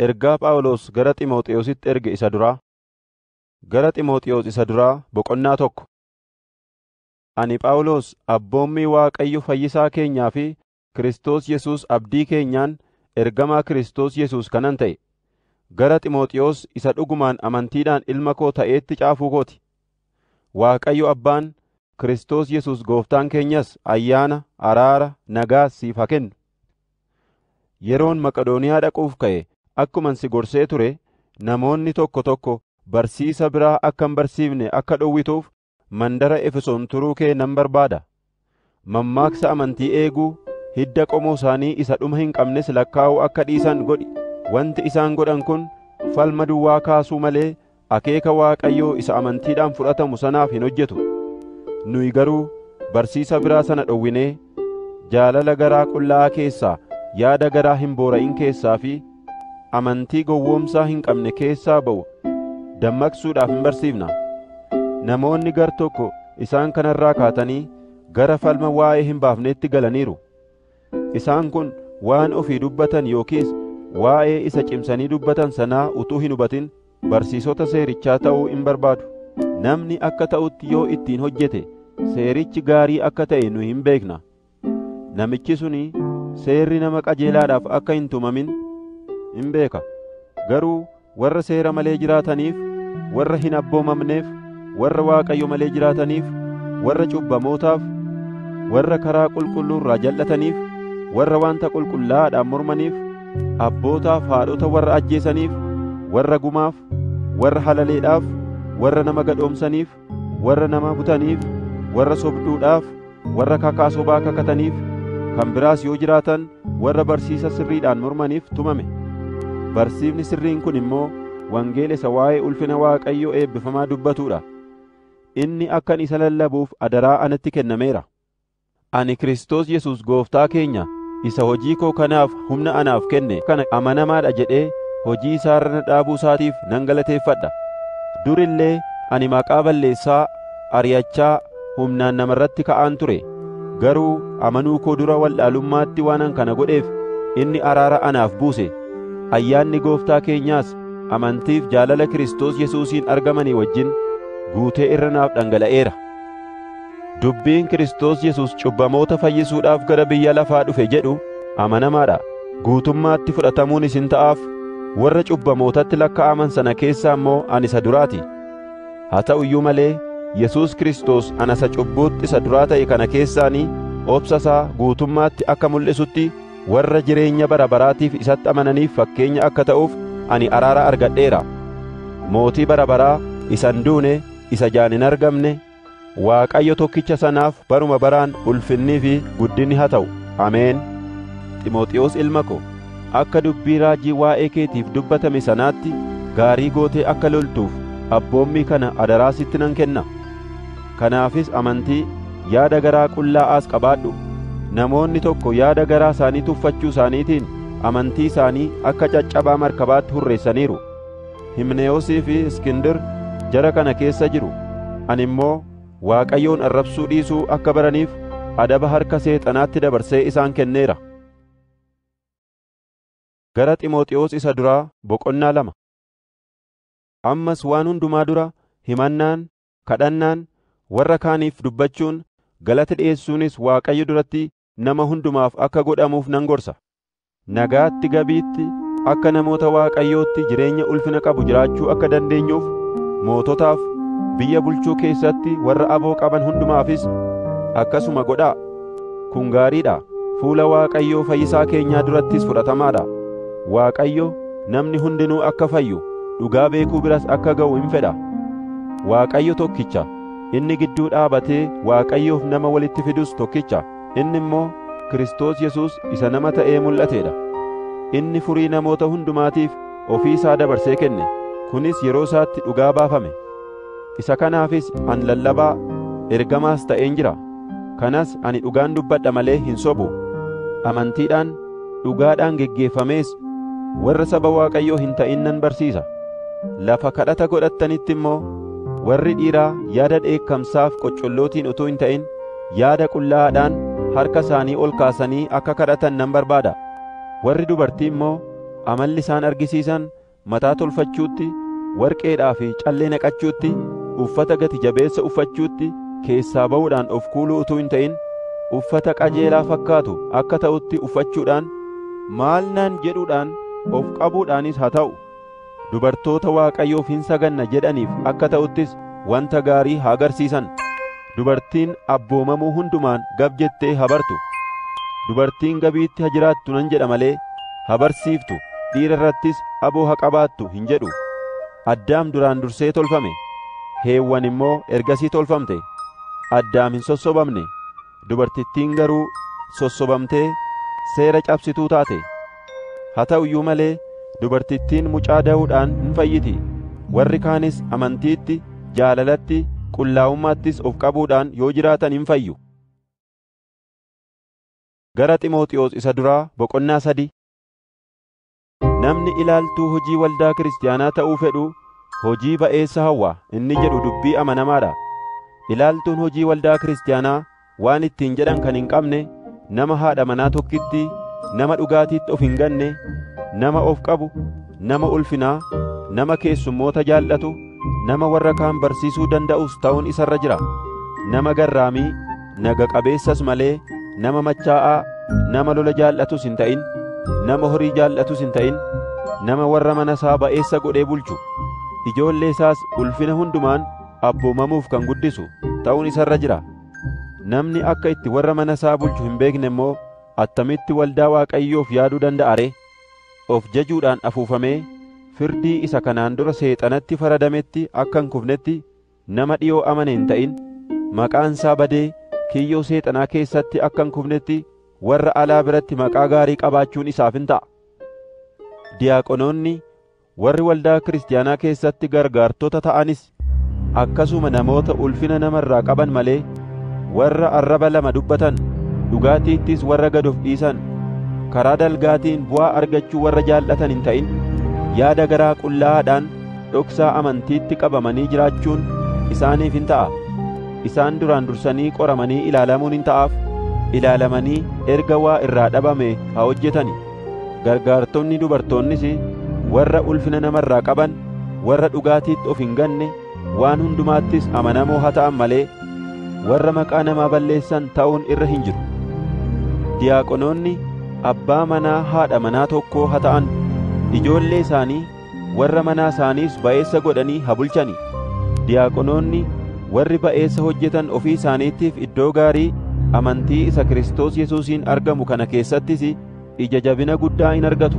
Ergaa Phaawulos gara Ximotewositti erge isa duraa. Gara Ximotewos isa duraa boqonnaa tokko. Ani Phaawulos abboommii Waaqayyo fayyisaa keenyaa fi Kiristoos Yesuus abdii keenyaan ergamaa Kiristoos Yesuus kanan ta'e, gara Ximotewos isa dhugumaan amantiidhaan ilma koo ta'eetti caafuu koo ti. Waaqayyo Abbaan, Kiristoos Yesuus Gooftaan keenyas ayyaana, araara, nagaas siif haa kennu. Yeroon Maqedooniyaa dhaquuf ka'e akkuman si gorsee ture namoonni tokko tokko barsiisa biraa akka hin barsiifne akka dhowwituuf mandara Efesoon turuu kee nan barbaada. Mammaaksa amantii eeguu, hidda qomoo isaanii isa dhuma hin qabnes lakkaa'uu akka dhiisan godhi. Wanti isaan godhan kun falma duwwaa kaasuu malee akeeka Waaqayyoo isa amantiidhaan fudhatamu sanaaf hin hojjetu. Nuyi garuu barsiisa biraa sana dhowwinee, jaalala garaa qullaa'aa keessaa, yaada garaa hin boora'in keessaa fi amantii gowwoomsaa hin qabne keessaa ba'u dammaqsuudhaaf in barsiifna. Namoonni gar tokko isaan kanarraa kaatanii gara falma waa'ee hin baafneetti galaniiru. Isaan kun waan ofii dubbatan yookiis waa'ee isa cimsanii dubbatan sanaa utuu hin hubatin barsiisota seerichaa ta'uu in barbaadu. Namni akka ta'utti yoo ittiin hojjete seerichi gaarii akka ta'e nu hin beekna. Namichi suni seerri nama qajeelaadhaaf akka hin tumamin in beeka. Garuu warra seera malee jiraataniif, warra hin abboomamneef, warra Waaqayyo malee jiraataniif, warra cubbamootaaf, warra karaa qulqulluu irraa jal'ataniif, warra wanta qulqullaa'aadhaan mormaniif, abbootaaf, haadhota warra ajjeesaniif, warra gumaaf, warra halaleedhaaf, warra nama gadhoomsaniif, warra nama butaniif, warra sobduudhaaf, warra kakaa sobaa kakataniif, kan biraas yoo jiraatan warra barsiisa sirriidhaan mormaniif tumame. Barsiifni sirriin kun immoo wangeela isa waa'ee ulfina Waaqayyo eebbifamaa dubbatudha. Inni akkan isa lallabuuf adaraa anatti kennameera. Ani Kiristoos Yesuus Gooftaa keenya isa hojii koo kanaaf humna anaaf kenne kana amanamaa dha jedhee hojii isaa irra na dhaabuu isaatiif nan galateeffadha. Dur illee ani maqaa balleessaa, ari'achaa, humnaan nama irratti ka'aan ture. Garuu amanuu koo dura wallaalummaatti waanan kana godheef inni araara anaaf buuse, ayyaanni Gooftaa keenyaas amantiif jaalala Kiristoos Yesuusiin argamanii wajjin guutee irra naaf dhangala'eera. Dubbiin Kiristoos Yesuus cubbamoota fayyisuudhaaf gara biyya lafaa dhufe jedhu amanamaadha. Guutummaatti fudhatamuun isin ta'aaf, warra cubbamootatti lakka'aman sana keessaa immoo ani isa duraati. Haa ta'u iyyuu malee Yesuus Kiristoos ana isa cubbuutti isa duraa ta'e kana keessaanii obsa isaa guutummaatti akka mul'isutti warra jireenya bara baraatiif isatti amananiif fakkeenya akka ta'uuf ani araara argadheera. Mootii bara baraa isa hin duune, isa ijaan hin argamne, Waaqayyo tokkicha sanaaf baruma baraan ulfinnii fi guddinni haa ta'u. Ameen. Ximooxiwoos ilma ko, akka dubbii raajii waa'ee keetiif dubbatame sanaatti gaarii gootee akka loltuuf abboommii kana adaraa sitti nan kenna. Kanaafis amantii, yaada garaa qullaa'aas qabaadhu. Namoonni tokko yaada garaa isaanii tuffachuu isaaniitiin amantii isaanii akka caccabaa markabaatti hurreessaniiru. Himnewoosii fi Iskindir jara kana keessa jiru, ani immoo Waaqayyoon arrabsuu dhiisuu akka baraniif adaba harka Seexanaatti dabarsee isaan kenneera. Gara Ximooxiwoos Isa Duraa Boqonnaa lama Ammas waan hundumaa dura himannaan, kadhannaan, warra kaaniif dubbachuun, galata dhi'eessuunis Waaqayyo duratti nama hundumaaf akka godhamuuf nan gorsa. Nagaatti gabiitti akka namoota Waaqayyootti jireenya ulfina qabu jiraachuu akka dandeenyuuf moototaaf, biyya bulchuu keessatti warra aboo qaban hundumaafis akkasuma godhaa. Kun gaarii dha, fuula Waaqayyoo fayyisaa keenyaa durattis fudhatamaa dha. Waaqayyo namni hundinuu akka fayyu, dhugaa beekuu biras akka ga'u in fedha. Waaqayyo tokkicha, Inni gidduu dhaabatee Waaqayyoof nama walitti fidus tokkicha, inni immoo Kiristoos Yesuus isa nama ta'ee mul'atee dha. Inni furii namoota hundumaatiif ofii isaa dabarsee kenne, kunis yeroo isaatti dhugaa baafame. Isa kanaafis an lallabaa, ergamaas ta'een jira. Kanas ani dhugaan dubbadha malee hin sobu. Amantiidhaan dhugaadhaan geggeeffamees warra saba Waaqayyoo hin ta'in nan barsiisa. Lafa kadhata godhattanitti immoo warri dhiiraa yaada dheekkamsaaf qoccollootiin utuu hin ta'in yaada qullaa'aadhaan harka isaanii ol kaasanii akka kadhatan nan barbaada. Warri dubartii immoo amalli isaan argisiisan mataa tolfachuutti, warqeedhaa fi callee naqachuutti, uffata gati jabeessa uffachuutti, keessaa ba'uudhaan of kuuluu utuu hin ta'in, uffata qajeelaa fakkaatu akka ta'utti uffachuudhaan, maal naan jedhuudhaan of qabuudhaanis haa ta'u, dubartoota Waaqayyoof hin saganna jedhaniif akka ta'uttis wanta gaarii haa agarsiisan. Dubartiin abboomamuu hundumaan gab jettee ha bartu. Dubartiin gabiitti ha jiraattu nan jedha malee ha barsiiftu, dhiira irrattis aboo ha qabaattu hin jedhu. Addaam duraan dursee tolfame, Heewwan immoo ergasii tolfamte. Addaam hin sossobamne, dubartittiin garuu sossobamtee seera cabsituu taate. Haa ta'u iyyuu malee dubartittiin mucaa da'uudhaan hin fayyiti, warri kaanis amantiitti, jaalalatti, qullaa'ummaattis of qabuudhaan yoo jiraatan hin fayyu. Gara Ximooxiwoos isa duraa boqonnaa sadii Namni ilaaltuu hojii waldaa kiristaanaa ta'uu fedhu hojii ba'eessa hawwa inni jedhu dubbii amanamaa dha. Ilaaltuun hojii waldaa kiristaanaa waan ittiin jedhan kan hin qabne, nama haadha manaa tokkittii, nama dhugaatiitti of hin ganne, nama of qabu, nama ulfinaa, nama keessummoota jaallatu, nama warra kaan barsiisuu danda'us ta'uun isa irra jira. Nama garraamii, naga qabeessas malee, nama machaa'aa, nama lola jaallatus hin ta'in, nama horii jaallatus hin ta'in, nama warra mana isaa ba'eessa godhee bulchu, ijoollee isaas ulfina hundumaan abboomamuuf kan guddisu ta'uun isa irra jira. Namni akka itti warra mana isaa bulchu hin beekne immoo attamitti waldaa Waaqayyoof yaaduu danda'a ree? Of jajuudhaan afuufamee firdii isa kanaan dura Seexanatti faradametti akka hin kufnetti nama dhi'oo amane hin ta'in. Maqaan isaa badee kiyyoo Seexanaa keessatti akka hin kufnetti warra alaa biratti maqaa gaarii qabaachuun isaaf in ta'a. Diyaaqonoonni Warri waldaa kiristiyaanaa keessatti gargaartota ta'anis akkasuma namoota ulfina nama irraa qaban malee, warra arraba lama dubbatan, dhugaatiittis warra gad of dhiisan, karaa dalgaatiin bu'aa argachuu warra jaallatan hin ta'in, yaada garaa qullaa'aadhaan dhoksaa amantiitti qabamanii jiraachuun isaaniif in ta'a. Isaan duraan dursanii qoramanii ilaalamuun in ta'aaf, ilaalamanii erga waa irraa dhabame haa hojjetani. Gargaartonni dubartoonnis warra ulfina namarraa qaban, warra dhugaatiitti of hin ganne, waan hundumaattis amanamoo haa ta'an malee, warra maqaa namaa balleessan ta'uun irra hin jiru. Diyaaqonoonni abbaa manaa haadha manaa tokkoo haa ta'an, ijoollee isaanii Warra manaa isaaniis ba'eessa godhanii haa bulchani. Diyaaqonoonni warri ba'eessa hojjetan ofii isaaniitiif iddoo gaarii amantii isa Kiristoos Yesuusiin argamu kana keessattis ija jabina guddaa in argatu.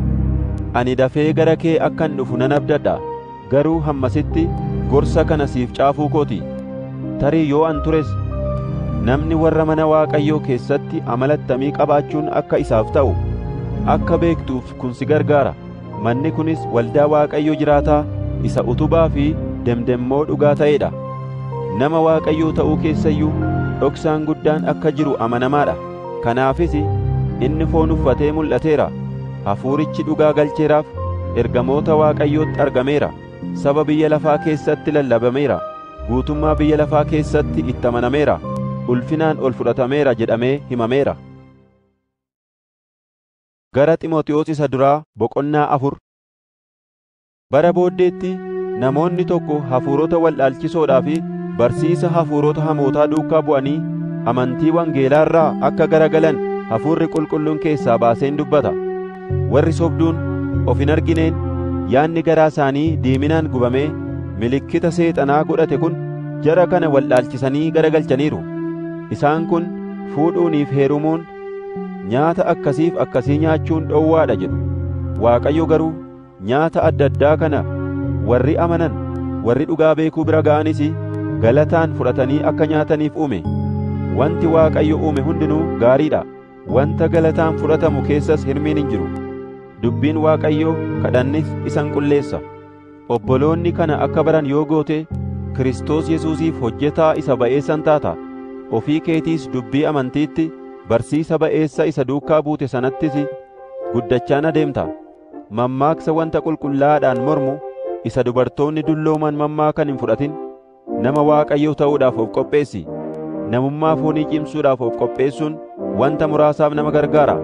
Ani dafee gara kee akkan dhufu nan abdadha, garuu hammasitti gorsa kana siif caafuu koo ti. Tarii yoo an tures, namni warra mana Waaqayyoo keessatti amala attamii qabaachuun akka isaaf ta'u akka beektuuf kun si gargaara. Manni kunis waldaa Waaqayyo jiraataa isa utubaa fi demdemmoo dhugaa ta'ee dha. Nama Waaqayyoo ta'uu keessa iyyuu dhoksaan guddaan akka jiru amanamaa dha. Kanaafis inni foon uffatee mul'ateera, hafuurichi dhugaa galcheeraaf, ergamoota Waaqayyootti argameera, saba biyya lafaa keessatti lallabameera, guutummaa biyya lafaa keessatti itti amanameera, ulfinaan ol fudhatameera jedhamee himameera. Gara Ximotewos Isa Duraa Boqonnaa Afur Bara booddeetti namoonni tokko hafuurota wal'aalchisoodhaa fi barsiisa hafuurota hamootaa duukaa bu'anii amantii wangeelaa irraa akka garagalan hafuurri qulqulluun keessaa baaseen dubbata. Warri sobduun of hin argineen yaanni garaa isaanii diiminaan gubamee milikkita seexanaa godhate kun jara kana wal'aalchisanii garagalchaniiru. Isaan kun fuudhuuniif heerumuun Nyaata akkasiif akkasii nyaachuun dhowwaa dha jedhu. Waaqayyo garuu nyaata adda addaa kana warri amanan, warri dhugaa beekuu bira ga'anis galataan fudhatanii akka nyaataniif uume. Wanti Waaqayyo uume hundinuu gaarii dha, wanta galataan fudhatamu keessas hirmiin hin jiru. Dubbiin Waaqayyoo kadhannis isa hin qulleessa. Obboloonni kana akka baran yoo goote, Kiristoos Yesuusiif hojjetaa isa ba'eessan taata, ofii keetiis dubbii amantiitti, barsiisa ba'eessa isa duukaa buute sanattis guddachaan adeemta. Mammaaksa wanta qulqullaa'aadhaan mormu isa dubartoonni dullooman mammaakan hin fudhatin. Nama Waaqayyoo ta'uudhaaf of qopheessi. Namummaa foonii cimsuudhaaf of qopheessuun wanta muraasaaf nama gargaara.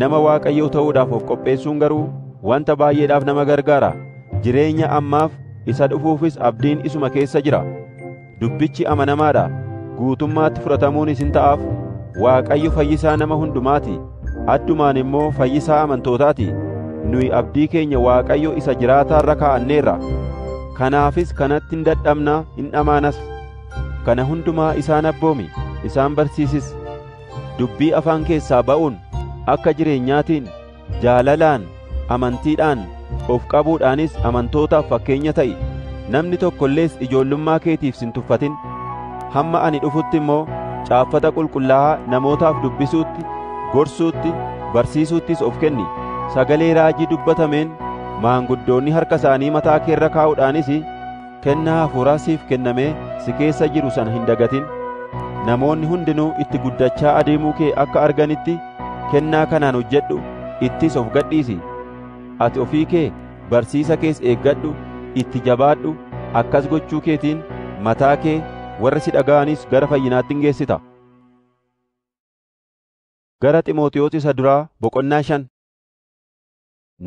Nama Waaqayyoo ta'uudhaaf of qopheessuun garuu wanta baay'eedhaaf nama gargaara. Jireenya ammaaf isa dhufuufis abdiin isuma keessa jira. Dubbichi amanamaa dha, guutummaatti fudhatamuunis in ta'aaf. Waaqayyo fayyisaa nama hundumaa ti. Addumaan immoo fayyisaa amantootaati. Nuyi abdii keenya Waaqayyo isa jiraataa irra kaa'anneerra. Kanaafis kanatti hin dadhabna, hin dhamaanas. Kana hundumaa isaan abboomi, isaan barsiisis. Dubbii afaan keessaa ba'uun akka jireenyaatiin, jaalalaan, amantiidhaan, of qabuudhaanis amantootaaf fakkeenya ta'i, namni tokko illees ijoollummaa keetiif si hin tuffatin. Hamma ani dhufutti immoo caaffata qulqullaa'aa namootaaf dubbisuutti, gorsuutti, barsiisuuttis of kenni. Sagalee raajii dubbatameen maanguddoonni harka isaanii mataa kee irra kaa'uudhaanis Kennaa hafuuraa siif kennamee si keessa jiru sana hin dagatin. Namoonni hundinuu itti guddachaa adeemuu kee akka arganitti kennaa kanaan hojjedhu, ittis of gadhiisi. Ati ofii kee, barsiisa kees eeggadhu, itti jabaadhu, akkas gochuu keetiin mataa kee, warra si dhaga'anis gara fayyinaatti in geessita. Gara Ximotewos Isa Duraa Boqonnaa 5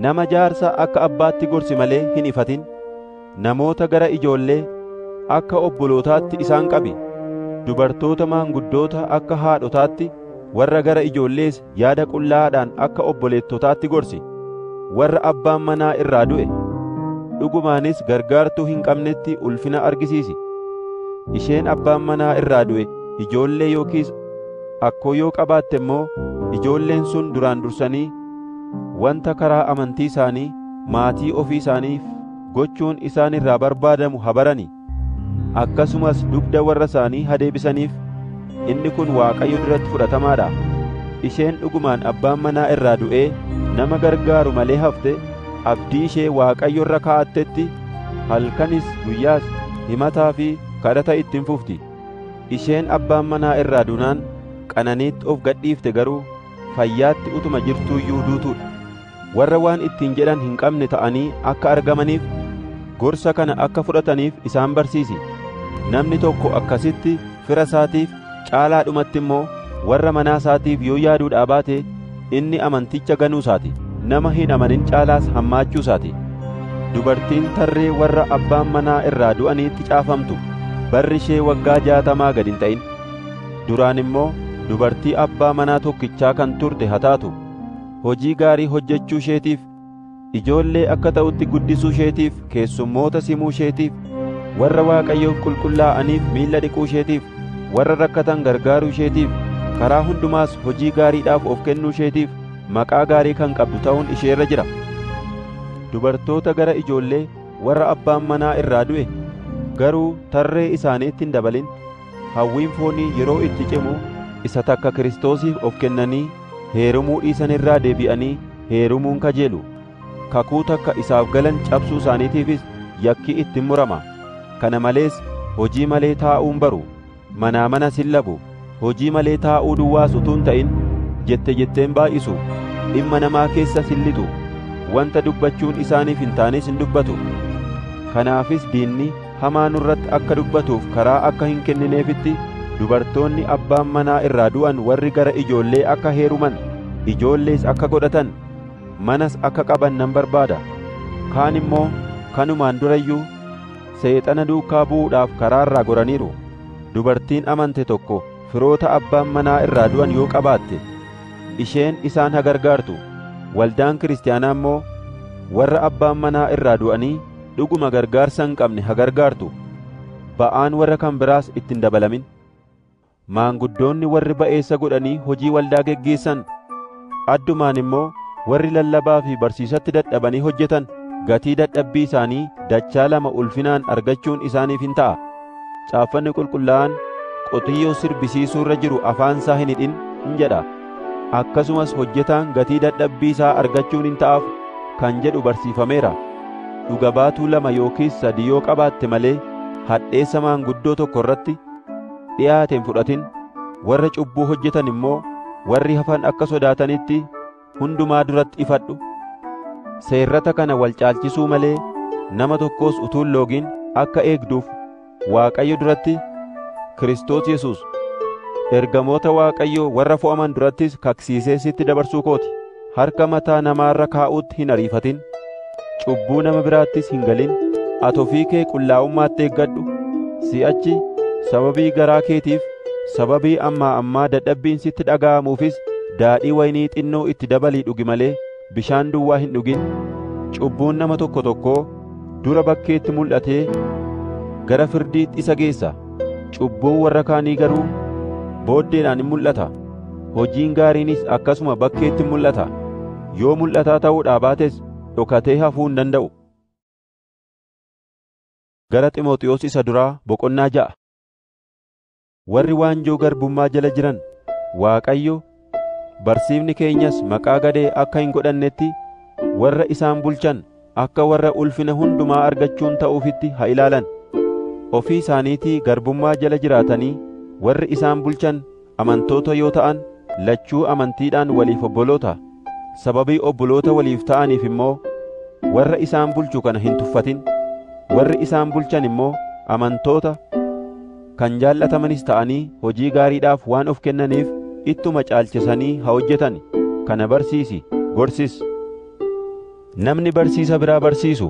Nama jaarsa akka abbaatti gorsi malee hin ifatin. Namoota gara ijoollee akka obbolootaatti isaan qabi. Dubartoota maanguddoota akka haadhotaatti, warra gara ijoollees yaada qullaa'aadhaan akka obboleettotaatti gorsi. Warra abbaan manaa irraa du'e, dhugumaanis gargaartuu hin qabnetti ulfina argisiisi. Isheen abbaan manaa irraa du'e ijoollee yookiis akkoo yoo qabaatte immoo ijoolleen sun duraan dursanii wanta karaa amantii isaanii maatii ofii isaaniif gochuun isaan irraa barbaadamu ha barani, akkasumas dugda warra isaanii ha deebisaniif, inni kun Waaqayyo duratti fudhatamaa dha. Isheen dhugumaan abbaan manaa irraa du'ee nama gargaaru malee hafte, abdii ishee Waaqayyo irra kaa'attetti, halkanis guyyaas himataa fi kadhata itti hin fufti. Isheen abbaan manaa irraa duunaan qananiitti of gadhiifte garuu, fayyaatti utuma jirtuu iyyuu duutuu dha. Warra waan ittiin jedhan hin qabne ta'anii akka argamaniif gorsa kana akka fudhataniif isaan barsiisi. Namni tokko akkasitti fira isaatiif caalaadhumatti immoo warra manaa isaatiif yoo yaaduudhaa baate inni amanticha ganuu isaati. Nama hin amanin caalaas hammaachuu isaati. Dubartiin tarree warra abbaan manaa irraa du'aniitti caafamtu barri ishee waggaa jaatamaa gad hin ta'in. Duraan immoo dubartii abbaa manaa tokkichaa kan turte haa taatu, hojii gaarii hojjechuu isheetiif, ijoollee akka ta'utti guddisuu isheetiif, keessummoota simuu isheetiif, warra Waaqayyoof qulqullaa'aniif miilla dhiquu isheetiif, warra rakkatan gargaaruu isheetiif, karaa hundumaas hojii gaariidhaaf of kennuu isheetiif maqaa gaarii kan qabdu ta'uun ishee irra jira. Dubartoota gara ijoollee warra abbaan manaa irraa du'e garuu tarree isaaniitti hin dabalin. Hawwiin foonii yeroo itti cimu isa takka Kiristoosiif of kennanii heerumuu dhiisan irraa deebi'anii heerumuun kajeelu. Kakuu takka isaaf galan cabsuu isaaniitiifis yakki itti in murama. Kana malees hojii malee taa'uu hin baru, manaa manas hin labu, hojii malee taa'uu duwwaas utuu hin ta'in jette jettee hin baay'isu, dhimma namaa keessas hin lixu, wanta dubbachuun isaaniif hin taanes hin dubbatu. Kanaafis diinni, hamaa nurratti akka dubbatuuf karaa akka hin kennineefitti dubartoonni abbaan manaa irraa du'an warri gara ijoollee akka heeruman, ijoollees akka godhatan, manas akka qaban nan barbaada. Kaan immoo kanumaan dura iyyuu Seexana duukaa bu'uudhaaf karaa irraa goraniiru. Dubartiin amante tokko firoota abbaan manaa irraa du'an yoo qabaatte, isheen isaan haa gargaartu, waldaan Kiristiyaanaa immoo warra abbaan manaa irraa du'anii Dhuguma gargaarsa hin qabne ha gargaartu, ba'aan warra kan biraas itti hin dabalamin. Maanguddoonni warri ba'eessa godhanii hojii waldaa geggeessan, addumaan immoo warri lallabaa fi barsiisatti dadhabanii hojjetan gatii dadhabbii isaanii dachaa lama ulfinaan argachuun isaaniif in ta'a. Caaffanni qulqullaa'aan qotiyyoo sirbisiisuu irra jiru afaan isaa hin hidhin in jedha. Akkasumas hojjetaan gatii dadhabbii isaa argachuun in ta'aaf kan jedhu barsiifameera. Dhuga baatuu lama yookiis sadii yoo qabaatte malee hadheessa maanguddoo tokko irratti dhi'aate hin fudhatin, warra cubbuu hojjetan immoo warri hafan akka sodaatanitti hundumaa duratti ifadhu. Seerrata kana wal caalchisuu malee nama tokkos utuu hin loogin akka eegduuf Waaqayyo duratti Kiristoos Yesuus ergamoota Waaqayyoo warra fo'aman durattis kaksiisee sitti dabarsuu kooti. Harka mataa namaarra kaa'uutti hin ariifatin. cubbuu nama biraattis hin galin. Ati ofii kee qullaa'ummaatti eeggadhu, si'achi sababii garaa keetiif, sababii ammaa ammaa dadhabbiin sitti dhaga'amuufis daadhii wayinii xinnoo itti dabalii dhugi malee bishaan duwwaa hin dhugin. Cubbuun nama tokko tokkoo dura bakkeetti mul'atee gara firdiitti isa geessa, cubbuun warra kaanii garuu booddeedhaan in mul'ata. Hojiin gaariinis akkasuma bakkeetti mul'ata. Yoo mul'ataa ta'uudhaa baates dhokatee hafuu hin danda'u. Gara Ximooxiyoos isa duraa boqonnaa ja'a. Warri waanjoo garbummaa jala jiran Waaqayyo barsiifni keenyas maqaa gadhee akka hin godhannetti warra isaan bulchan akka warra ulfina hundumaa argachuun ta'uufitti ha ilaalan. Ofii isaaniitii garbummaa jala jiraatanii warri isaan bulchan amantoota yoo ta'an lachuu amantiidhaan waliif obboloota. Sababii obboloota waliif ta'aniif immoo warra isaan bulchu kana hin tuffatin. Warri isaan bulchan immoo amantoota kan jaallatamanis ta'anii hojii gaariidhaaf waan of kennaniif ittuma caalchisanii ha hojjetan. Kana barsiisi, gorsis. Namni barsiisa biraa barsiisu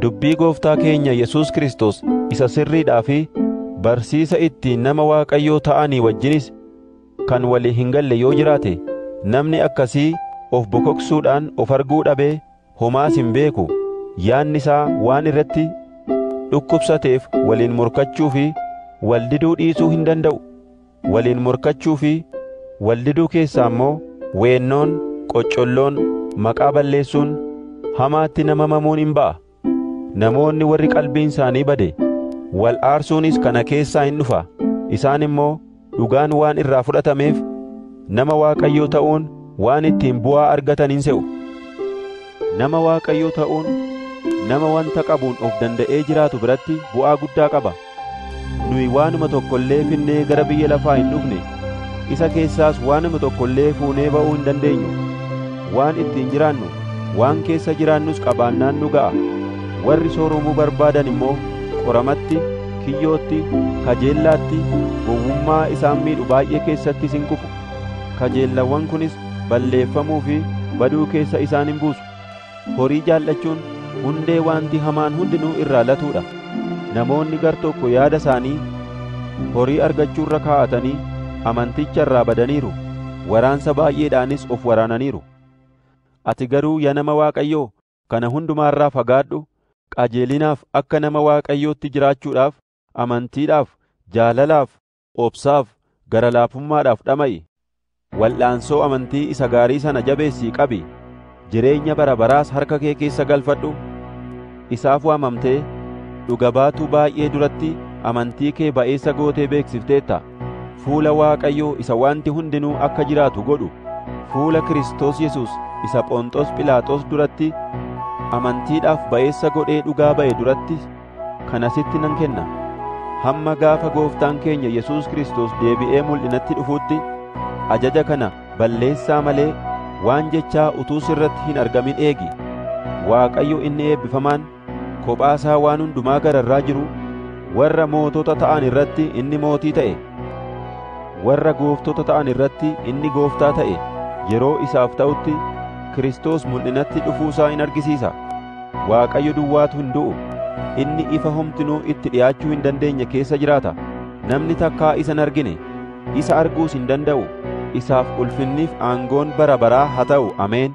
dubbii Gooftaa keenya Yesuus Kiristoos isa sirriidhaa fi barsiisa ittiin nama Waaqayyoo ta'anii wajjinis kan walii hin galle yoo jiraate, namni akkasii of bokoksuudhaan of arguu dhabee homaas hin beeku, yaanni isaa waan irratti dhukkubsateef waliin morkachuu fi wal diduu dhiisuu hin danda'u. Waliin morkachuu fi wal diduu keessaa immoo weennoon, qoccolloon, maqaa balleessuun, hamaatti nama mamuun in ba'a. Namoonni warri qalbiin isaanii bade, wal aarsuunis kana keessaa in dhufa, isaan immoo dhugaan waan irraa fudhatameef, nama Waaqayyoo ta'uun waan ittiin bu'aa argatan in se'u. Nama Waaqayyoo ta'uun nama wanta qabuun of danda'ee jiraatu biratti bu'aa guddaa qaba. Nuyi waanuma tokko illee finnee gara biyya lafaa hin dhufne, isa keessaas waanuma tokko illee fuunee ba'uu hin dandeenyu. Waan ittiin jiraannu, waan keessa jiraannus qabaannaan nu ga'a. Warri sooromuu barbaadan immoo qoramatti, kiyyootti, kajeellaatti, gowwummaa isaan miidhu baay'ee keessattis in kufu. Kajeellawwan kunis balleeffamuu fi baduu keessa isaan in buusu. Horii jaallachuun hundee waanti hamaan hundinuu irraa latuu dha. Namoonni gar tokko yaada isaanii horii argachuu irra kaa'atanii amanticha irraa badaniiru, waraansa baay'eedhaanis of waraananiiru. Ati garuu ya nama Waaqayyoo, kana hundumaa irraa fagaadhu, qajeelinaaf akka nama Waaqayyootti jiraachuudhaaf, amantiidhaaf, jaalalaaf, obsaaf, gara laafummaadhaaf dhama'i. Wal'aansoo amantii isa gaarii sana jabeessii qabi, jireenya bara baraas harka kee keessa galfadhu. Isaaf waamamtee, dhuga baatuu baay'ee duratti amantii kee ba'eessa gootee beeksifteetta. Fuula Waaqayyoo isa wanti hundinuu akka jiraatu godhu, fuula Kiristoos Yesuus isa Phonxos Philaaxos duratti amantiidhaaf ba'eessa godhee dhugaa ba'e durattis, kana sitti nan kenna. Hamma gaafa gooftaan keenya Yesuus Kiristoos deebi'ee mul'inatti dhufuutti ajaja kana balleessaa malee waan jechaa utuu sirratti hin argamin eegi. Waaqayyo inni eebbifamaan kophaa isaa waan hundumaa gararraa jiru warra mootota ta'an irratti inni mootii ta'e, warra gooftota ta'an irratti inni gooftaa ta'e yeroo isaaf ta'utti Kiristoos mul'inatti dhufuu isaa in argisiisa. Waaqayyo duwwaatu hin du'u. Inni ifa homtinuu itti dhi'aachuu hin dandeenye keessa jiraata. Namni takkaa isa hin argine, isa arguus hin danda'u. Isaaf ulfinniif aangoon bara baraa haa ta'u! Ameen!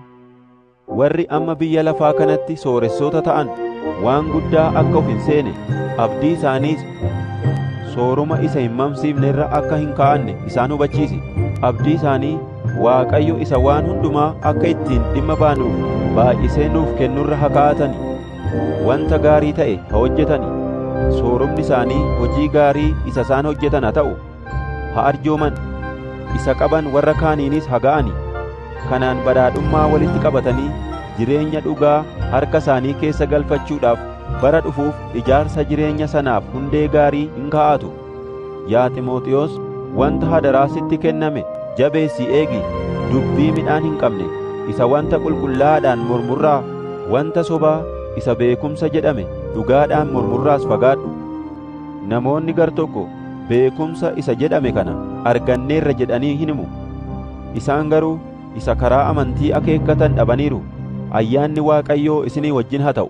Warri amma biyya lafaa kanatti sooressoota ta'an waan guddaa akka of hin seene, abdii isaaniis sooruma isa hin mamsiifne irra akka hin kaa'anne isaan hubachiisi. Abdii isaanii Waaqayyo isa waan hundumaa akka ittiin dhimma baanuuf baay'isee nuuf kennurra ha kaa'atani. Wanta gaarii ta'e ha hojjetani. Soorumni isaanii hojii gaarii isa isaan hojjetan ha ta'u. Ha arjooman. Isa qaban warra kaaniinis ha ga'ani. Kanaan badhaadhummaa walitti qabatanii jireenya dhugaa harka isaanii keessa galfachuudhaaf bara dhufuuf ijaarsa jireenya sanaaf hundee gaarii in kaa'atu. Yaa Ximooxiwoos, wanta hadaraa sitti kenname jabeessii eegi, dubbii midhaan hin qabne isa wanta qulqullaa'aadhaan mormurraa, wanta sobaa isa beekumsa jedhame dhugaadhaan mormurraas fagaadhu. Namoonni gar tokko beekumsa isa jedhame kana arganneerra jedhanii hin himu. Isaan garuu isa karaa amantii akeekkatan dhabaniiru. Ayyaanni Waaqayyoo isinii wajjin haa ta'u.